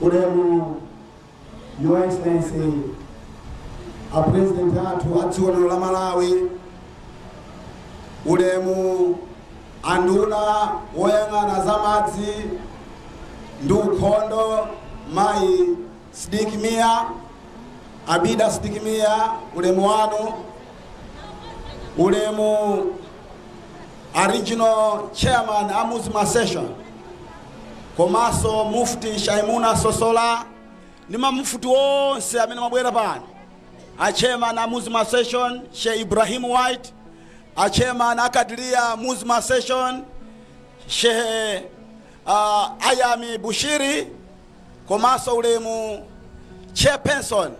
ulemu your excellency a president athu a dziko lino la malawi ulemu anduna woyang'ana za madzi ndi ukhondo mayi sidik mia abida sidik mia ulemu wanu ulemu A Regional Chairman a Muslim Association komanso Mufti Shaimuna Sosola ndi ma Mufti onse amene mwabwera pano, a Chairman a Muslim Association Sheikh Ibrahim White, a Chairman a Kadiria Muslim Association Sheikh uh, Ayami Bushiri komanso ulemu Chairperson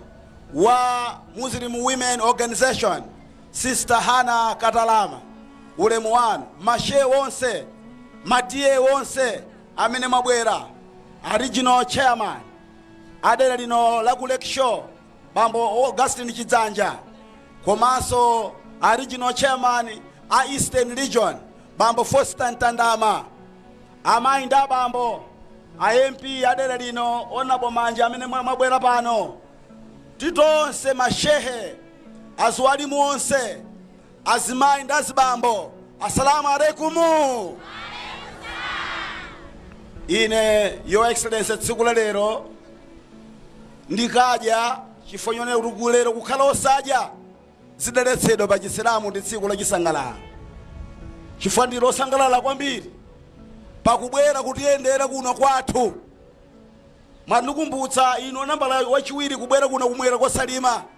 wa Muslim Women Organization Sister Hannah Katalama ulemu wanu, ma Shehe onse, ma TA onse amene mwabwera, a Regional Chairman a dera lino la ku Lakeshore Bambo Augustine Chidzanja komanso a Regional Chairman a Eastern Region Bambo Foster Ntandama, amayi ndi abambo, a MP a dera lino Honorable Manja amene mwa- mwabwera pano, titonse ma Shehe aziwalimu onse azimayi ndi azibambo assalamu alaikumu ine your excellency tsiku la lero ndikadya chifukwa chonena kuti kulero kukhala osadya zidaletsedwa pa chisilamu ndi tsiku lachisangalalo chifukwa ndili osangalala kwambiri pakubwera kutiyendera kuno kwathu mwandikumbutsa inu nambala wachiwiri kubwera kuno kumwera kwa salima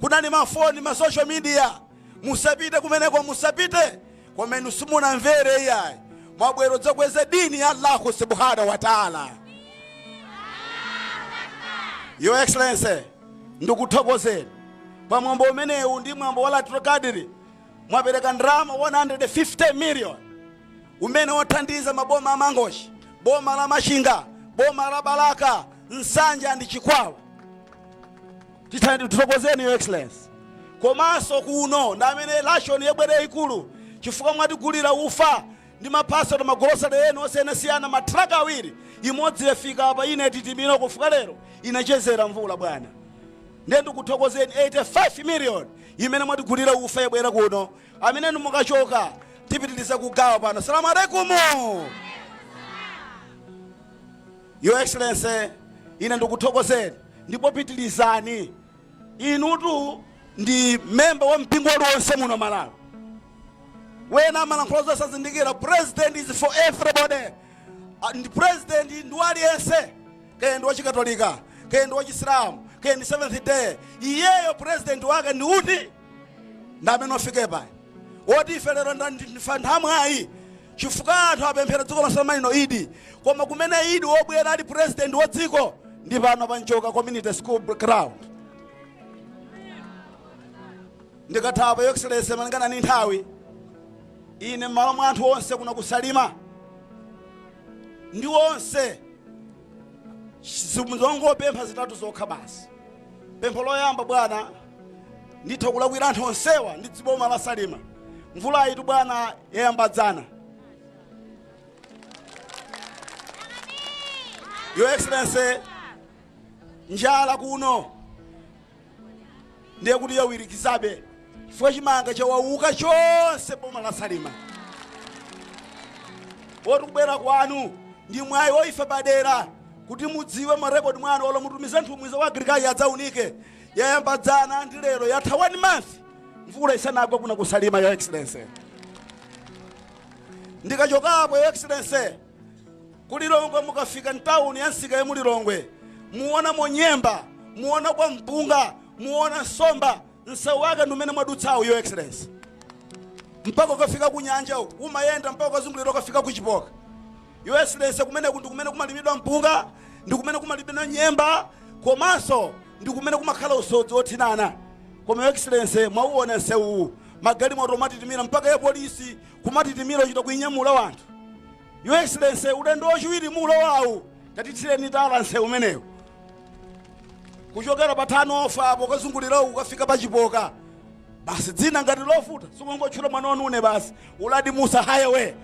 Kunali ma phone ma social media musapite kumeneko musapite koma inu simunamvere iyayi mwabwera kudzakweza dini ya Allahu subhanahu wa ta'ala. Your Excellency, ndikuthokozeni pa mwambo umenewu ndi mwambo wa Lailatul Qadr mwapereka ndalama 150 million umene wathandiza maboma a Mangochi, boma la Machinga, boma la Balaka, Nsanje ndi Chikwawa. titani tithokozeni your excellency komanso kuno ndi amene ration yabwera yayikulu chifukwa mwatigulira ufa ndi maphaso ndi magolosale ena osiyanasiyana ma truck awiri imodzi yafika apa inatitimira kufika lero inachezera mvula bwana ndiye ndikuthokozeni 85 million imene mwatigulira ufa yabwera kuno amene inu mukachoka tipitiriza kugawa pano assalamu alaikumu your excellency ine ndikuthokozeni ndipo pitilizani inutu ndi member wa mpingo uliwonse muno malawi wena amalankhula zosazindikira president is for everybody president ndi waliyense kaya ndi wachikatolika kaya ndi wachisilamu kaya ndi seventh day iyeyo president wake ndi uti ndi amene ofike paya woti ife lero nda- ndi- ndifa nthamwayi chifukwa anthu apemphera dziko lonse la Malawi lino idi koma kumene idi wobwera ali president wa dziko ndi pano pa Nchoka community school ground ndikathawa your excellency malingana ni nthawi ine m'malo mwa anthu onse kuno ku Salima ndi onse zongopempha zitatu zokha basi pempho loyamba bwana nditha kulakwira anthu onsewa ndi dziboma la salima mvula iyitu bwana yayamba dzana your excellency njala kuno ndiye kuti yawirikizabe chifukwa chimanga chawauka chonse boma la salima woti kubwera kwanu ndi mwayi wa ife padera kuti mudziwe m'marekodi mwanu olo mutumize nthumwi za ku agriculture adzaunike yayamba dzana ndi lero yatha one month mvula isanagwa kuno ku Salima your excellency ndikachokapo your excellency ku Lilongwe mukafika mtawuni ya msika ya mu Lilongwe muona monyemba muona kwa mpunga muona nsomba msewu wake ndi umene mwadutsawo your excellency mpaka ukafika ku nyanja umayenda mpaka ukazungulira ukafika ku chipoka Your Excellency kumeneku ndi kumene kumalimidwa mpunga, ndi kumene kumalimidwa nyemba komanso ndi kumene kumakhala usodzi wothinana. Koma Your Excellency mwauona nsewuwu, magalimoto amatitimira mpaka ya polisi kumatitimira ochita kuinyamula wanthu. Your Excellency ulendo wachiwiri m'mulowawu tatithireni tala nsewu umenewu kuchokera pa Thavite mpaka kukazungulira uku kukafika pa Chipoka basi dzina ngati lovuta sikungotchula mwana wanu une basi uladi musa hayewe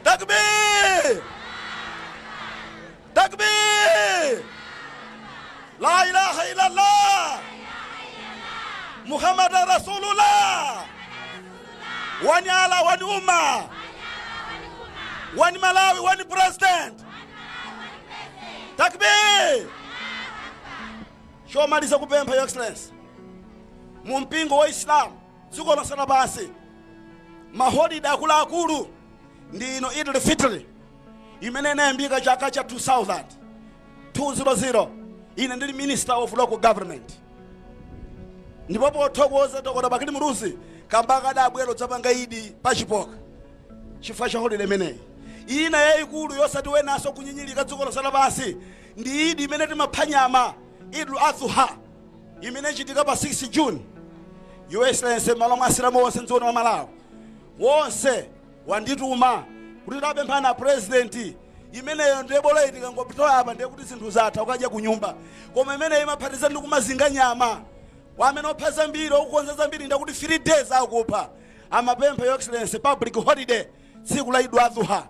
takbir takbir la ilaha illallah muhammad rasulullah wani ala wani umma wani malawi wani president takbir chomaliza chopempha your excellency mu mpingo wa islam dziko lonse lapansi maholide akuluakulu ndi ino idil fitri imene inayambika chaka cha 2000 200 ine ndili minister of local government ndipo pothokoza dokota bakili muluzi kambaka adabwera kudzapanga idi pa Chipoka Chifukwa cha holide imeneyi, ina yaikulu yosati wenanso kunyinyirika dziko lonse lapansi, ndi Eid imene timapha nyama, Eid-ul-Adha, imene ichitika pa 6 June. Your Excellency, m'malo mwa Asilamu onse m'dziko lino la Malawi, wonse wandituma kuti tapemphani a President, imeneyo ndiye bola iyi tikangopitilira apa ndiye kuti zinthu zatha ukadya kunyumba, koma imeneyo imaphatikiza ndi kumazinga nyama, kwa amene opha zambiri akukonza zambiri ndiye kuti 3 days akupha. amapempha your excellency public holiday tsiku la Eid Adha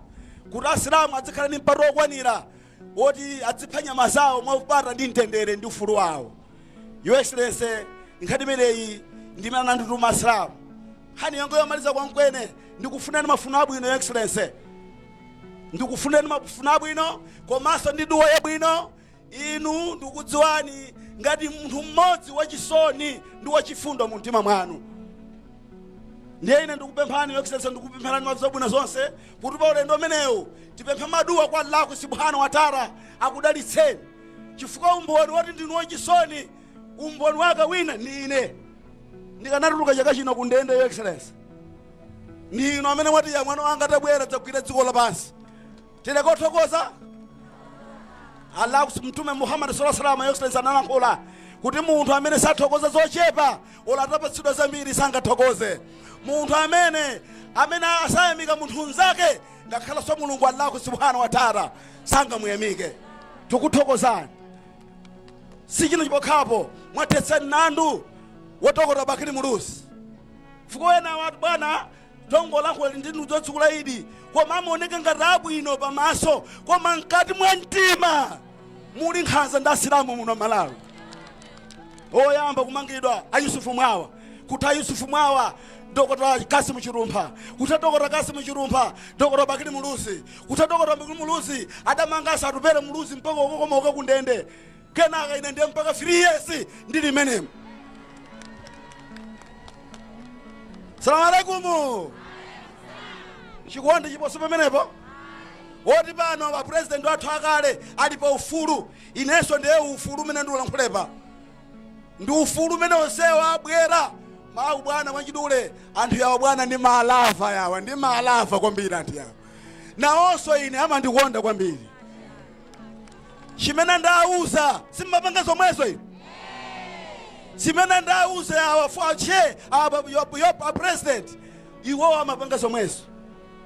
kuti asilamu adzikhala ndi mpata wokwanira woti adzipha nyama zawo mwaupata ndi mtendere ndi ufulu wawo your excellency nkhani imeneyi ndimene anandituma asilamu nkhani yanga yomaliza kwenikweni ndikufunani mafuno abwino your excellency ndikufunani mafuno abwino komanso ndi duwa yabwino Inu ndikudziwani ngati munthu mmodzi wachisoni ndi wachifundo mu mtima mwanu ndiye ine ndikupemphani your excellency ndikupempherani mwa zabwino zonse kuti pa ulendo umenewu tipemphe maduwa kwa allahu subhanahu wa taala akudalitseni chifukwa umboni woti ndinu wachisoni umboni wake wina ndi ine ndikanatuluka chaka chino ku ndende your excellency ndi inu amene mwati ya mwana wanga tabwera dzagwira dziko lapansi tili kothokoza allah mtume muhammad sallallahu alaihi wasallam your excellency analankhula kuti munthu amene sathokoza zochepa ola atapatsidwa zambiri sangathokoze munthu amene amene asayamika munthu mnzake ngakhalanso mulungu allahu subhanahu wa taala sangamuyamike tikuthokozani si chino chipokhapo mwathetsani nandu wa dokota bakili muluzi mfuka wena watu bwana ongolankhula ndinu zotsekula idi koma amaoneka ngati abwino pamaso koma mkati mwa mtima muli nkhanza ndi asilamu muno malawi oyamba kumangidwa a yusufu mwawa kutha a yusufu mwawa dokota kasimu chilumpha kutha dokota kasimu chilumpha dokota bakili muluzi kutha dokota bakili muluzi adamanganso atupele muluzi mpaka kukakomoka kundende kenaka ine ndiye mpaka 3 years ndili mmenemo salamu alaikumu chikondi chiposo pamenepo woti pano a president wathu akale ali pa ufulu inenso ndiye ufulu umene ndikulankhula apa ndi ufulu umene onsewo abwera mawu bwana mwachidule anthu yawa bwana ndi malava yawa ndi malava kwambiri anthu yawa nawonso ine amandikonda kwambiri chimene ndawuza si amapanga zomwezo ine chimene ndawuza awa for chair awa apa pa a president iwo amapanga zomwezo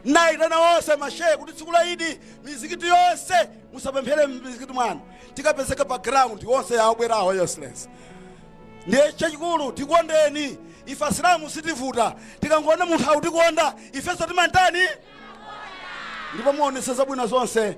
naitana wonse mashehe kuti tsiku la idi mizikiti yonse musapemphere mizikiti mwanu tikapezeka pa ground wonse awa abwerawa your excellency ndiye chachikulu tikondeni ife asilamu sitivuta tikangoona munthu akutikonda ifenso timamutani ndipo muonese zabwino zonse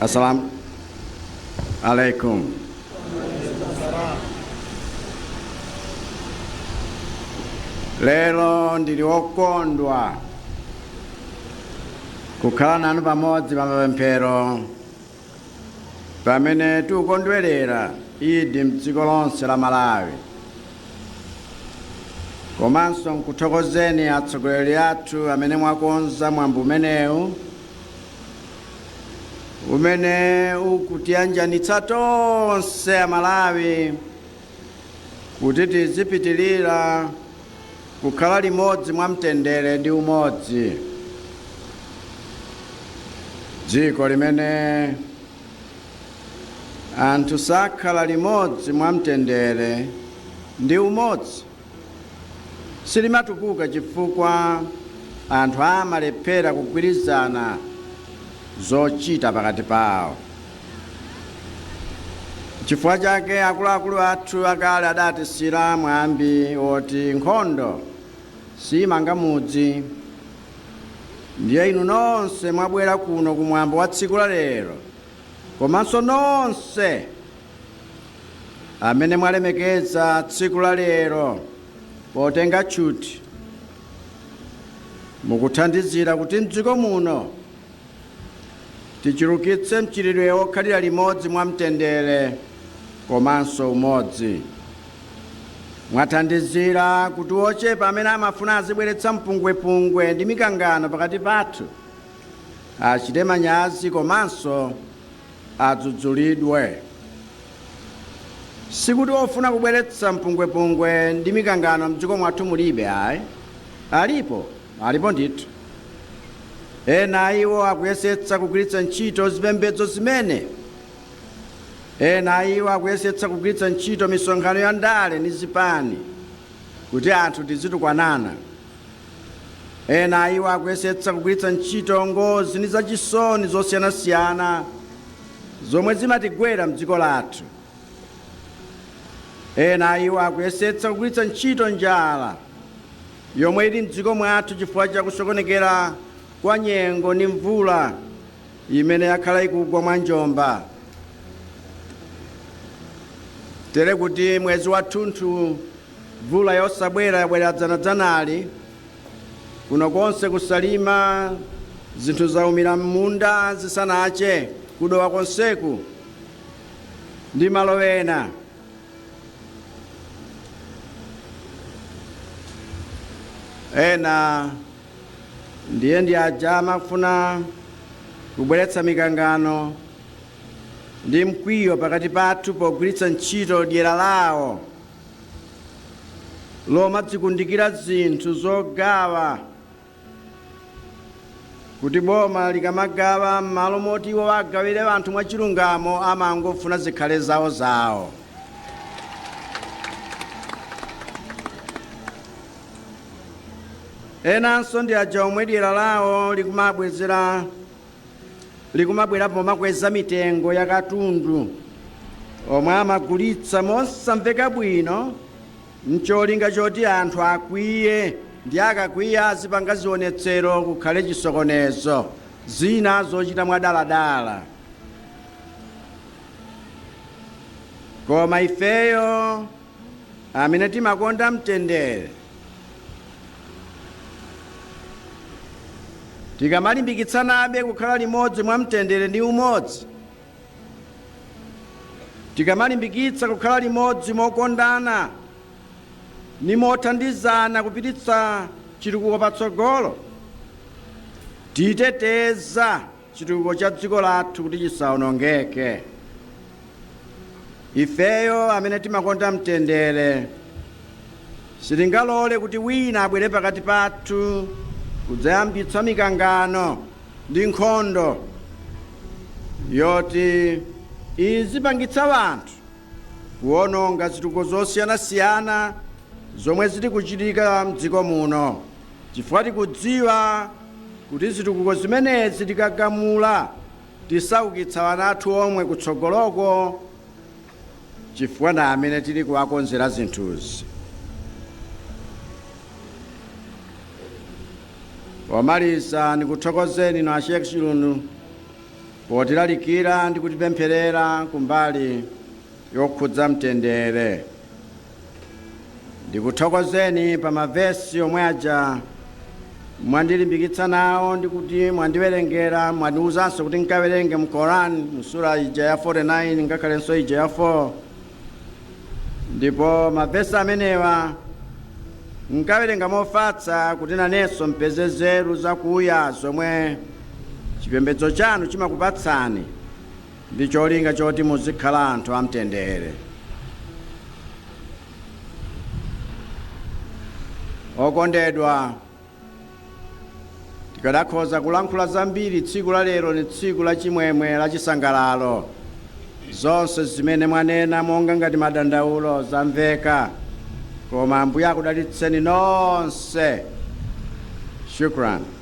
assalamu alaikum lero ndili wokondwa kukhala nanu pamodzi pa mapemphero pamene tikukondwerera idi mdziko lonse la malawi komanso nkuthokozeni atsogoleri athu amene mwakonza mwambo umenewu umene ukutiyanjanitsa tonse a malawi kuti tizipitirira kukhala limodzi mwa mtendere ndi umodzi dziko limene anthu sakhala limodzi mwa mtendere ndi umodzi silimatukuka chifukwa anthu amalephera kugwirizana zochita pakati pawo. Chifukwa chake akuluakulu athu akale adatisiyira mwambi woti nkhondo siimanga mudzi. Ndiye inu nonse mwabwera kuno ku mwambo wa tsiku la lero, komanso nonse amene mwalemekeza tsiku la lero potenga tchuthi mukuthandizira kuti mdziko muno tichulukitse mchitidwe wokhalira limodzi mwa mtendere komanso umodzi mwathandizira kuti ochepa amene amafuna azibweretsa mpungwepungwe ndi mikangano pakati pathu achite manyazi komanso adzudzulidwe. Sikuti ofuna kubweretsa mpungwepungwe ndi mikangano mdziko mwathu mulibe ayi, alipo, alipo ndithu. Ena a iwo akuyesetsa kugwiritsa ntchito zipembedzo zimenezi, ena a iwo akuyesetsa kugwiritsa ntchito misonkhano ya ndale ndi zipani kuti anthu tizitukwanana Ena a iwo akuyesetsa kugwiritsa ntchito ngozi ndi zachisoni zosiyanasiyana zomwe zimatigwera m'dziko lathu. Ena a iwo akuyesetsa kugwiritsa ntchito njala yomwe ili m'dziko mwathu chifukwa cha kusokonekera kwa nyengo ndi mvula imene yakhala ikugwa mwanjomba. Tere kuti mwezi wathunthu Mvula yosabwera yabwera dzanadzanali. Kuno konse ku Salima zinthu zaumira m'munda zisanache. Ku Dowa konseku ndi malo ena. Ena ndiye ndi aja amafuna kubweretsa mikangano ndi mkwiyo pakati pathu pogwiritsa ntchito dyera lawo. lomadzikundikira zinthu zogawa kuti boma likamagawa m'malo moti iwo agawire anthu mwachilungamo amangofuna zikhale zawo zawo enanso ndi aja omwe dyera lawo likumabwezera likumabwera pomakweza mitengo ya katundu omwe amagulitsa mosamveka bwino mcholinga choti anthu akwiye ndi akakwiya azipanga zionetsero kukhale chisokonezo zina zochita mwadaladala koma ifeyo amene timakonda mtendere. Tikamalimbikitsanabe kukhala limodzi mwa mtendere ndi umodzi, tikamalimbikitsa kukhala limodzi mokondana ndi mothandizana kupititsa chitukuko patsogolo, titeteza chitukuko cha dziko lathu kuti chisaonongeke. Ifeyo amene timakonda mtendere sitingalole kuti wina abwere pakati pathu kudzayambitsa mikangano ndi nkhondo yoti izipangitsa anthu kuononga zitukuko zosiyanasiyana zomwe zili kuchitika mdziko muno. chifukwa tikudziwa kuti zitukuko zimenezi tikagamula tisaukitsa ana athu omwe kutsogoloko chifukwa ndi amene tili kuwakonzera zinthuzi pomaliza ndikuthokozeni inu a Sheikh Chilundu potilalikira ndi kutipempherera kumbali yokhudza mtendere ndikuthokozeni pa mavesi omwe aja mwandilimbikitsa nawo ndi kuti mwandiwerengera mwandiwuzanso kuti nkawerenge mu Quran mu sura ija ya 49 ngakhalenso ija ya 4 ndipo mavesi amenewa nkawerenga mofatsa kuti nanenso mpeze nzeru zakuya zomwe chipembedzo chanu chimakupatsani ndi cholinga choti muzikhala anthu amtendere. okondedwa tikadakhoza kulankhula zambiri tsiku la lero ni tsiku la chimwemwe la chisangalalo zonse zimene mwanena monga ngati madandaulo zamveka koma ambuye akudalitseni nonse shukran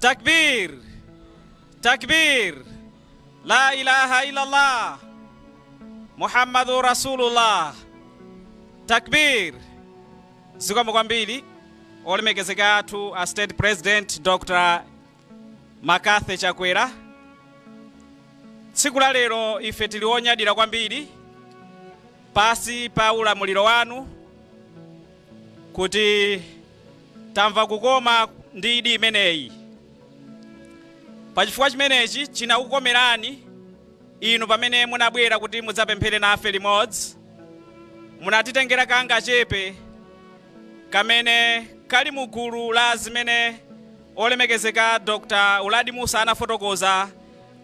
takbir takbir la ilaha illallah muhammadu rasulullah takbir zikomo kwambiri olemekezeka athu a state president dr mccarthy chakwera tsiku la lero ife tili onyadira kwambiri pasi pa ulamuliro wanu kuti tamva kukoma ndi idi imeneyi. Pachifukwa chimenechi chinakukomerani inu pamene munabwera kuti mudzapemphere nafe limodzi, munatitengera kangachepe kamene kali mu gulu la zimene olemekezeka Dr. Uladi Mussa anafotokoza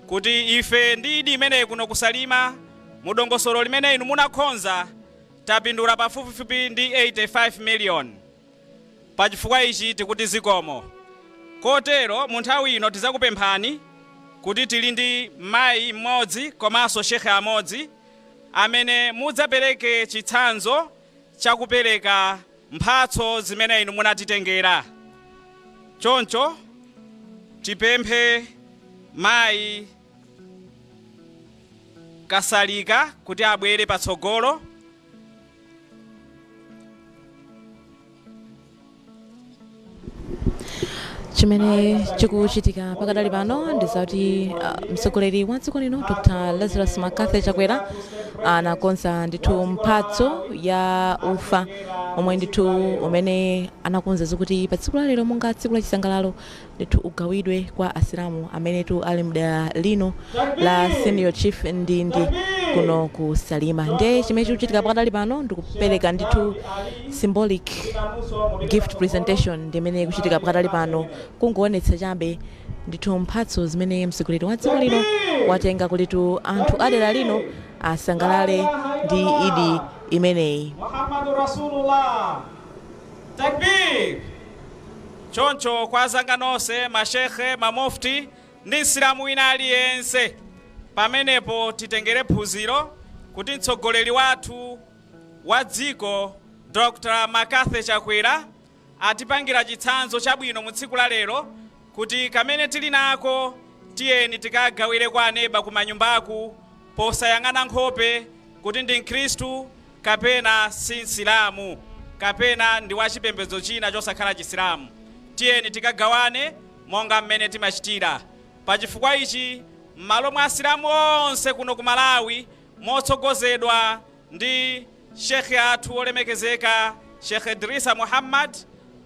kuti ife ndi idi imeneyi kuno ku Salima mu dongosolo limene inu munakhonza Tapindula pafupifupi ndi 85 million pachifukwa ichi tikuti zikomo kotero mu nthawi ino tizakupemphani kuti tili ndi Mayi mmodzi komanso Shehe amodzi amene mudzapereke chitsanzo chakupereka mphatso zimene inu munatitengera choncho tipemphe Mayi Kasalika kuti abwere patsogolo. chimene chikuchitika pakadali pano ndi zakuti mtsogoleri wa dziko lino dr lazarus mccarthy chakwera anakonza ndithu mphatso ya ufa omwe ndithu umene anakonza kuti pa tsiku la lero monga tsiku la chisangalalo ndithu ugawidwe kwa asilamu amenetu ali mdera lino la senior chief ndindi kuno ku salima nde chimene chikuchitika pakadali pano ndikupereka ndithu symbolic gift presentation ndimene ikuchitika pakadali pano kungoonetsa chabe ndithu mphatso zimene mtsogoleri wa dziko lino watenga kutitu anthu adera lino asangalale ndi idi imeneyi Muhammadu Rasulullah. Takbir! Choncho kwa azanga nonse, ma Sheikh, ma Mufti ndi Msilamu wina aliyense pamenepo titengere phunziro kuti mtsogoleri wathu wa dziko Dr McCarthy Chakwera atipangira chitsanzo chabwino mu tsiku la lero kuti kamene tili nako tiyeni tikagawire kwa aneba kumanyumbaku posayang'ana nkhope kuti ndi mkhristu kapena si Msilamu, kapena ndi wa chipembedzo china chosakhala Chisilamu, tiyeni tikagawane monga mmene timachitira. Pa chifukwa ichi, mmalo mwa Asilamu onse kuno ku Malawi motsogozedwa ndi Sheikh athu olemekezeka Sheikh Idrissa Muhammad,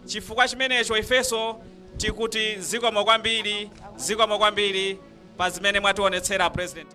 chifukwa chimenecho ifenso tikuti zikomo kwambiri, zikomo kwambiri pa zimene mwationetsera a President.